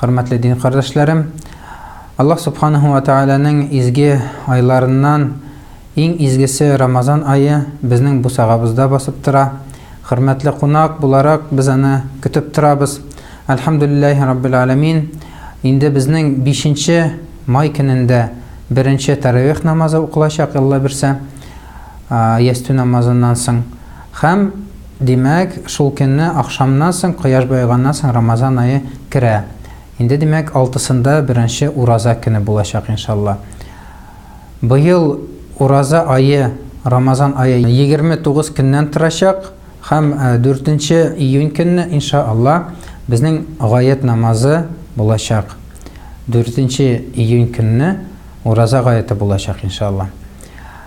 Хөрмәтле дин кардәшләрем! Аллаһ Субханаһу ва Тәгаләнең изге айларыннан иң изгесе Рамазан ае безнең бусагабызда басып тора. Хөрмәтле кунак буларак без аны көтеп торабыз. Әлхәмдүлилләһи раббил галәмин, инде безнең бишенче май көнендә беренче тәравих намазы укылачак, Алла бирсә, ястү намазыннан соң. Һәм. Димәк, шул көнне ахшамнан соң, кояш баеганнан соң Рамазан ае керә. Инде, димәк, алтысында беренче ураза көне булачак, иншалла. Быел ураза ае, Рамазан ае егерме тугыз көннән торачак һәм дүртенче июнь көнне, иншаАлла, безнең гает намазы булачак. Дүртенче июнь көнне ураза гаяте булачак, иншаАлла.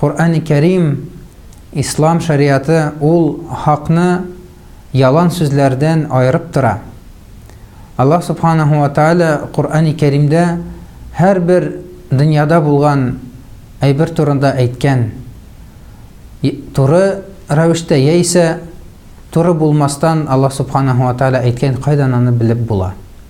Коръәни Кәрим, Ислам шәригате ул хакны ялан сүзләрдән аерып тора. Аллаһ Субханаһу ва Тәгалә Коръәни Кәримдә һәрбер дөньяда булган әйбер турында әйткән, туры рәвештә яисә туры булмастан Аллаһ Субханаһу ва Тәгалә әйткән, кайдан аны белеп була?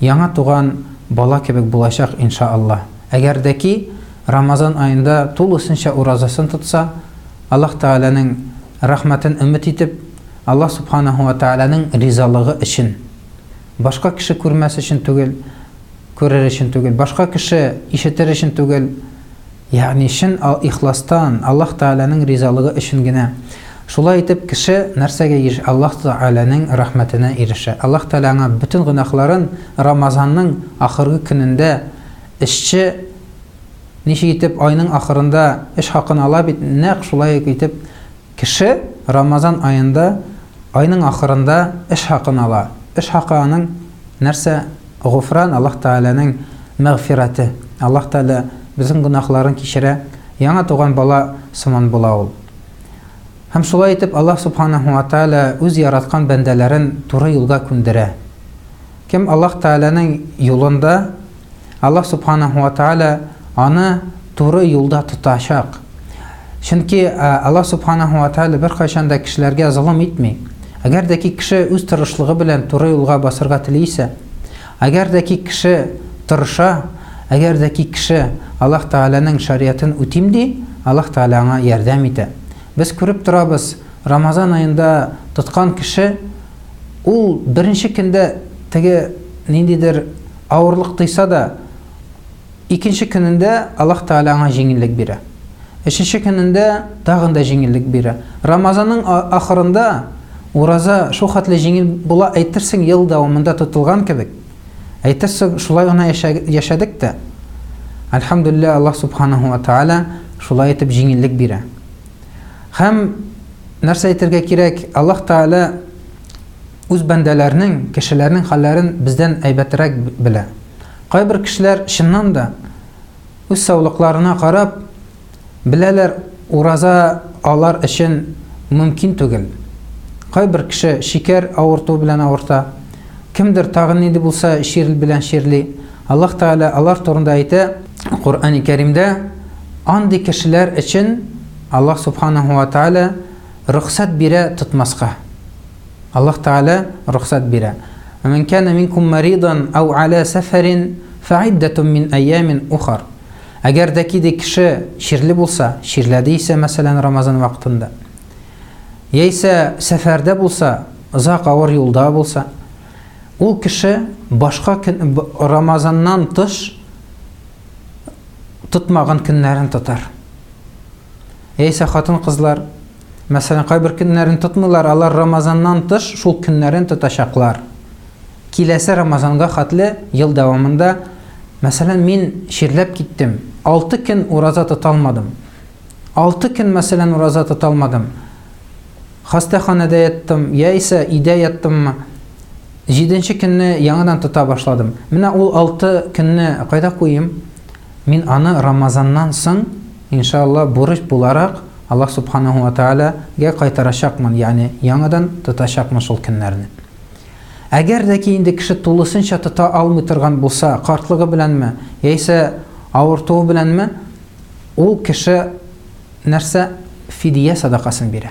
Яңа туган бала кебек булачак инша Аллаһ. Әгәр дә ки, Рамазан аенда тулысынча уразасын тотса, Аллаһ Тәгаләнең рәхмәтен өмет итеп, Аллаһ Субханаһу ва Тәгаләнең ризалыгы өчен, башка кеше күрмәс өчен түгел, күрер өчен түгел, башка кеше ишетер өчен түгел, Ягъни чын ихластан, Аллаһ Тәгаләнең ризалыгы өчен генә. Шулай итеп, кеше нәрсәгә еш Аллаһ Тәгаләнең рәхмәтенә ирешә. Аллаһ Тәгалә аңа бөтен гөнаһларын Рамазанның ахыргы көнендә, эшче ничек итеп айның ахырында эш хакын ала бит, нәкъ шулай ук итеп, Кеше Рамазан аенда айның ахырында эш хакын ала. Эш хакы аның нәрсә? Гофран, Аллаһ Тәгаләнең мәгъфирате. Аллаһ Тәгалә безнең гөнаһларын кичерә, яңа туган бала сыман була ул. Һәм шулай итеп Аллаһ Субханаһу ва Тәгалә үз яраткан бәндәләрен туры юлга күндерә. Кем Аллаһ Тәгаләнең юлында Аллаһ Субханаху ва Тааля аны туры юлда тотачак. Чөнки Аллаһ Субханаху ва Тааля беркайчан да кешеләргә золым итми. Әгәр дә ки кеше үз тырышлыгы белән туры юлга басырга тели исә, әгәр дә ки кеше тырыша, әгәр дә ки кеше Аллаһ Тааляның шариятын үтим ди, Аллаһ Тааля аңа ярдәм итә. Без күреп торабыз, Рамазан аенда тоткан кеше ул беренче көндә теге ниндидер Авырлык тойса да, икенче көнендә Аллаһ Тәгалә аңа җиңеллек бирә. Өченче көнендә тагын да җиңеллек бирә. Рамазанның ахырында ураза шул хәтле җиңел була, әйтерсең ел дәвамында тотылган кебек. Әйтерсең шулай гына яшәдек тә. Альхамдулиллаһ, Аллаһ Субханаһу ва Тәгалә шулай итеп җиңеллек бирә. Һәм нәрсә әйтергә кирәк, Аллаһ Тәгалә Үз бәндәләренең, кешеләрнең хәлләрен бездән әйбәтерәк белә. Кайбер кешеләр, чыннан да, үз саулыкларына карап, беләләр, ураза алар өчен мөмкин түгел. Кайбер кеше шикәр авыртуы белән авырта, кемдер тагын нинди булса чир белән чирли. Аллаһ Тәгалә алар турында әйтә, Коръәни Кәримдә, Андый кешеләр өчен Аллаһ Субханаһу ва Тәгалә рөхсәт бирә тотмаска. Аллаһ Тәгалә рөхсәт бирә. Вәмән кана минкум маридан ау ала сәфәрин фәиддәтун мин әйямин ухар. Әгәр дә ки ди кеше чирле булса, чирләде исә, мәсәлән, Рамазан вакытында. Яисә сәфәрдә булса, озак авыр юлда булса, ул кеше башка Рамазаннан тыш тотмаган көннәрен тотар. Яисә хатын-кызлар Мәсәлән, кайбер көннәрен тотмыйлар, алар Рамазаннан тыш шул көннәрен тотачаклар. Киләсе Рамазанга хәтле ел дәвамында, мәсәлән, мин чирләп киттем, 6 көн ураза тоталмадым. 6 көн, мәсәлән, ураза тоталмадым. Хастаханәдә яттым, яисә өйдә яттыммы? 7 көнне яңадан тота башладым. Менә ул 6 көнне кайда куйым? Мин аны Рамазаннан соң, иншаАллаһ, бурыч буларак Аллаһ Субханаһу ва Тәгалә гә кайтарачакмын, ягъни яңадан тотачакмын шул көннәрне. Әгәр дә ки инде кеше тулысынча тота алмый торган булса, картлыгы беләнме, яисә авыртуы беләнме, ул кеше нәрсә? Фидия садакасын бирә.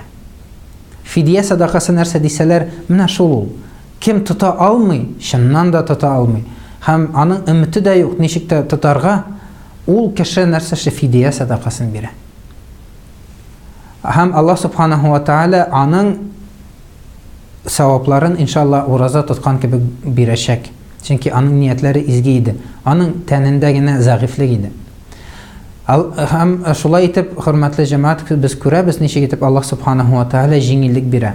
Фидия садакасы нәрсә дисәләр, менә шул ул. Кем тота алмый, чыннан да тота алмый, һәм аның өмете дә юк, ничек тә тотарга, ул кеше нәрсәсе фидия сәдакасын бирә. Һәм Аллаһ субханаһу ва тааля аның савапларын иншалла ураза тоткан кебек бирәчәк. Чөнки аның ниятләре изге иде. Аның тәнендә генә зәгыйфьлек иде. Һәм шулай итеп, хөрмәтле җәмәгать, без күрәбез, ничек итеп Аллаһ субханаһу ва тааля җиңеллек бирә.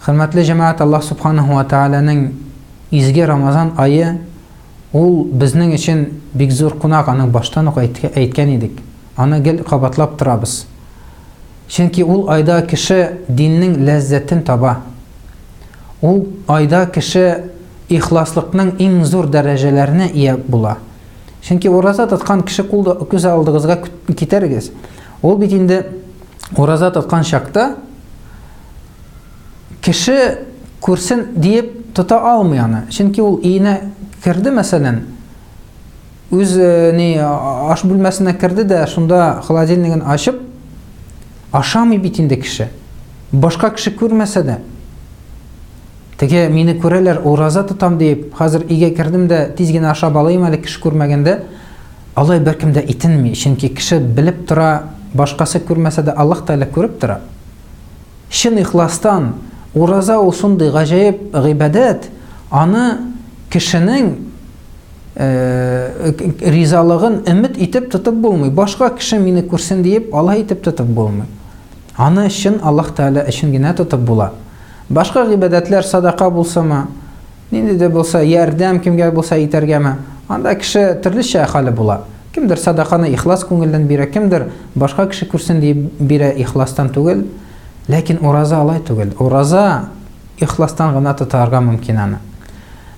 Хөрмәтле җәмәгать, Аллаһ Субханаһу ва Тәгаләнең изге Рамазан ае, ул безнең өчен бик зур кунак, аны баштан ук әйткән идек, аны гел кабатлап торабыз. Чөнки ул айда кеше диннең ләззәтен таба. Ул айда кеше ихласлыкның иң зур дәрәҗәләренә ия була. Чөнки ураза тоткан кеше кулда күз алдыгызга китерегез. Ул бит инде ураза тоткан чакта кеше күрсен диеп тота алмый аны. Чөнки ул өенә керде, мәсәлән, үз э, ни аш бүлмәсенә керде дә, шунда холодильнигын ачып ашамый бит инде кеше. Башка кеше күрмәсә дә, теге мине күрәләр, ураза тотам диеп, хәзер өйгә кердем дә тиз генә ашап алыйм әле кеше күрмәгәндә, алай беркем дә итенми, чөнки кеше белеп тора, башкасы күрмәсә дә Аллаһ Тәгалә күреп тора. Чын ихластан, ураза ул шундый гаҗәеп гыйбадәт, аны кешенең ризалыгын өмет итеп тотып булмый. Башка кеше мине күрсен диеп, алай итеп тотып булмый. Аны чын Аллаһ Тәгалә өчен генә тотып була. Башка гыйбадәтләр садака булсымы, Нинди дә булса ярдәм кемгә булса итәргәме? Анда кеше төрлечә хәле була. Кемдер садаканы ихлас күңелдән бирә, кемдер башка кеше күрсен дип бирә ихластан түгел. Ләкин ураза алай түгел. Ураза ихластан гына тотарга мөмкин аны.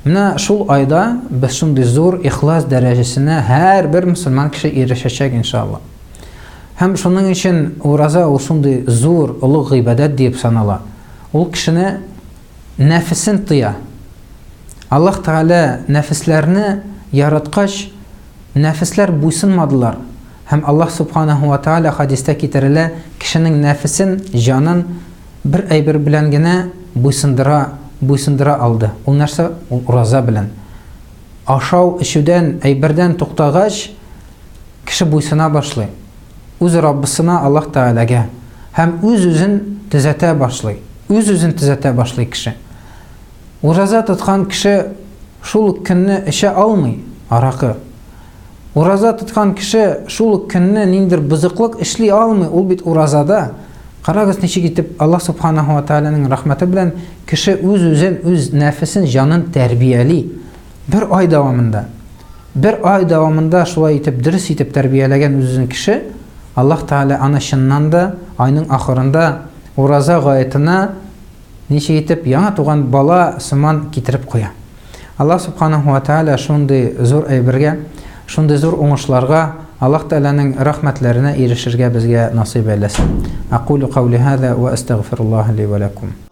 Менә шул айда без шундый зур ихлас дәрәҗәсенә һәрбер мусульман кеше ирешәчәк иншалла. Һәм шуның өчен ураза ул шундый зур, олуг гыйбадәт дип санала. Ул кешене нәфесен тыя. Аллаһ Тәгалә нәфесләрне яраткач, нәфесләр буйсынмадылар. Һәм Аллаһ Субханаһу ва Тәгалә, хәдистә китерелә, кешенең нәфесен, җанын бер әйбер белән генә буйсындыра, буйсындыра алды. Ул нәрсә? Ул ураза белән. Ашау-эчүдән, әйбердән туктагач, кеше буйсына башлый. үз Раббысына, Аллаһ Тәгаләгә, һәм үз-үзен төзәтә башлый. Үз-үзен төзәтә башлый кеше. Ураза тоткан кеше шул ук көнне эчә алмый аракы. Ураза тоткан кеше шул ук көнне ниндер бозыклык эшли алмый, ул бит уразада. Карагыз, ничек итеп Аллаһ Субханаһу ва Тәгаләнең рәхмәте белән кеше үз-үзен, үз нәфесен, җанын тәрбияли. Бер ай дәвамында, бер ай дәвамында шулай итеп дөрес итеп тәрбияләгән үзен кеше, Аллаһ Тәгалә аны чыннан да айның ахырында ураза гаетына ничек итеп яңа туган бала сыман китереп куя. Аллаһ Субханаху ва Тәгалә шундый зур әйбергә, шундый зур уңышларга, Аллаһ Тәгаләнең рәхмәтләренә ирешергә безгә насыйп әйләсен. Акулю каули һаза ва астагфируллаһа ли ва лакум.